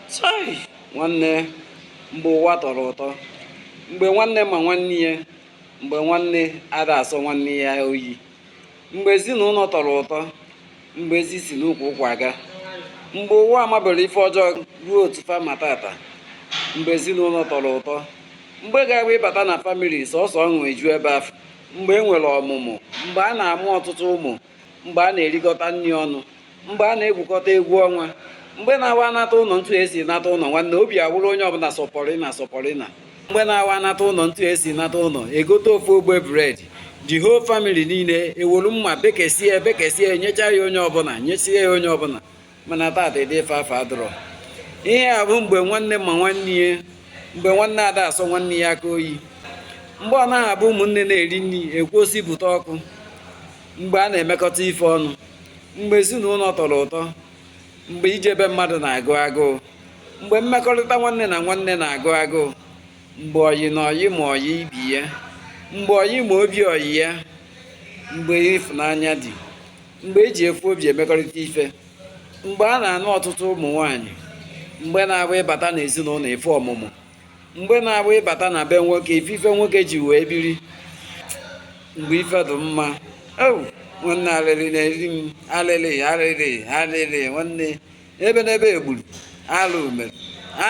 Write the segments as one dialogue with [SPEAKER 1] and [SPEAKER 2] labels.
[SPEAKER 1] Chai! Nwanne, mgbe ụwa tọrọ ụtọ, mgbe nwanne ma nwanne ya, mgbe nwanne ada asọ nwanne ya oyi, mgbe ezinụlọ tọrọ ụtọ, mgbe ezi si n'ukwu ụkwụ aga, mgbe ụwa amabero ife ọjọọ ruo otu fa ma taata, mgbe ezinụlọ tọrọ ụtọ, mgbe ga-abụ ịbata na famili sọsọ ọṅụ eju ebe afụ, mgbe e nwere ọmụmụ, mgbe a na-amụ ọtụtụ ụmụ. mgbe a na-erikọta nri ọnụ mgbe a na-egwukọta egwu ọnwa mgbe na-awụ a nata ụlọ ntu esi nata ụlọ nwanne obi awụrụ onye ọbụla sọ pọrịna sọ pọrịna mgbe na-awụ a nata ụlọ ntu esi nata ụlọ egote ofu ogbe bread the whole family niile ewolu mma bekesie bekesie nyecha ya onye ọbụla nyesie ya onye ọbụla mana taata ụdị ife afụ adụrọ ihe a bụ mgbe nwanne ma nwanne ya mgbe nwanne ada asọ nwanne ya aka oyi mgbe ọ naghị abụ ụmụnne na-eri nri e kwuo sị bute ọkụ mgbe a na-emekọta ife ọnụ mgbe ezinụlọ tọrọ ụtọ mgbe ije be mmadụ na-agụ agụụ mgbe mmekọrịta nwanne na nwanne na-agụ agụụ mgbe ọyị na ọyị ma ọyị ibe ya mgbe ọyị ma obi ọyị ya mgbe ịfụnanya dị mgbe e ji ofu obi emekọrịta ife mgbe a na-anụ ọtụtụ ụmụ nwaanyị mgbe na-abụ ịbata n'ezinụlọ ịfụ ọmụmụ mgbe na-abụ ịbata na be nwoke ịfụ ife nwoke ji wee biri mgbe ife dị mma nwanne alịlị na-eri m alịlị alịlị alịlị nwanne ebenebe egburu alụ mere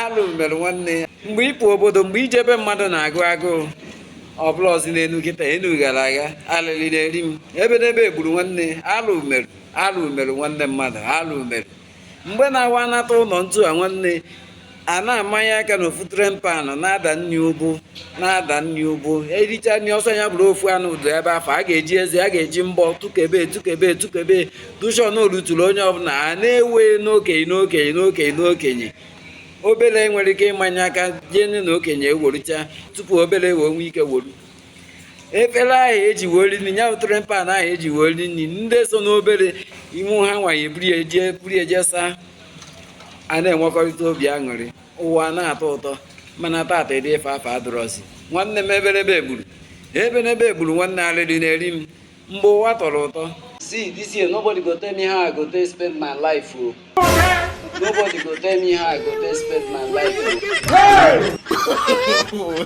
[SPEAKER 1] alụ mere nwanne ya mgbe ịpụ obodo mgbe ije be mmadụ na-agụ agụụ ọ bụrọzi n'elu kịta enu gara aga alịlị na-eri m ebenebe egburu nwanne alụ mere alụ mere nwanne mmadụ alụ mere mgbe na-awụ a nata ụlọ ntu a nwanne a na-amanye aka na ofu tray pan na-ada nri ụbụ na-ada nri ụbụ ericha nri ọ sọ ya bụrụ ofu anụ dụ ebe afụ a ga-eji eze a ga-eji mbọ tụkebe tụkebe tụkebe dushon oluturu onye ọbụla a na-ewe n'okenye n'okenye n'okenye n'okenye obere enwerọ ike ịmanye aka jee nne na okenye eworucha tupu obere wee nwee ike woru efere ahụ eji wee ri nri ya bụ tray pan ahụ eji wee ri nri ndị so n'obere ime ha nwa ya eburu ya jee buru ya jee saa a na-enwekọrịta obi aṅụrị ụwa na-atọ ụtọ mana taata ụdị ife afụ adụrọzi nwanne m ebenebe egburu ebenebe egburu nwanne arịrị na-eri m mgbe ụwa tọrọ ụtọ see this year nobody go tell me how i go take spend my life o nobody go tell me how i go take spend my life o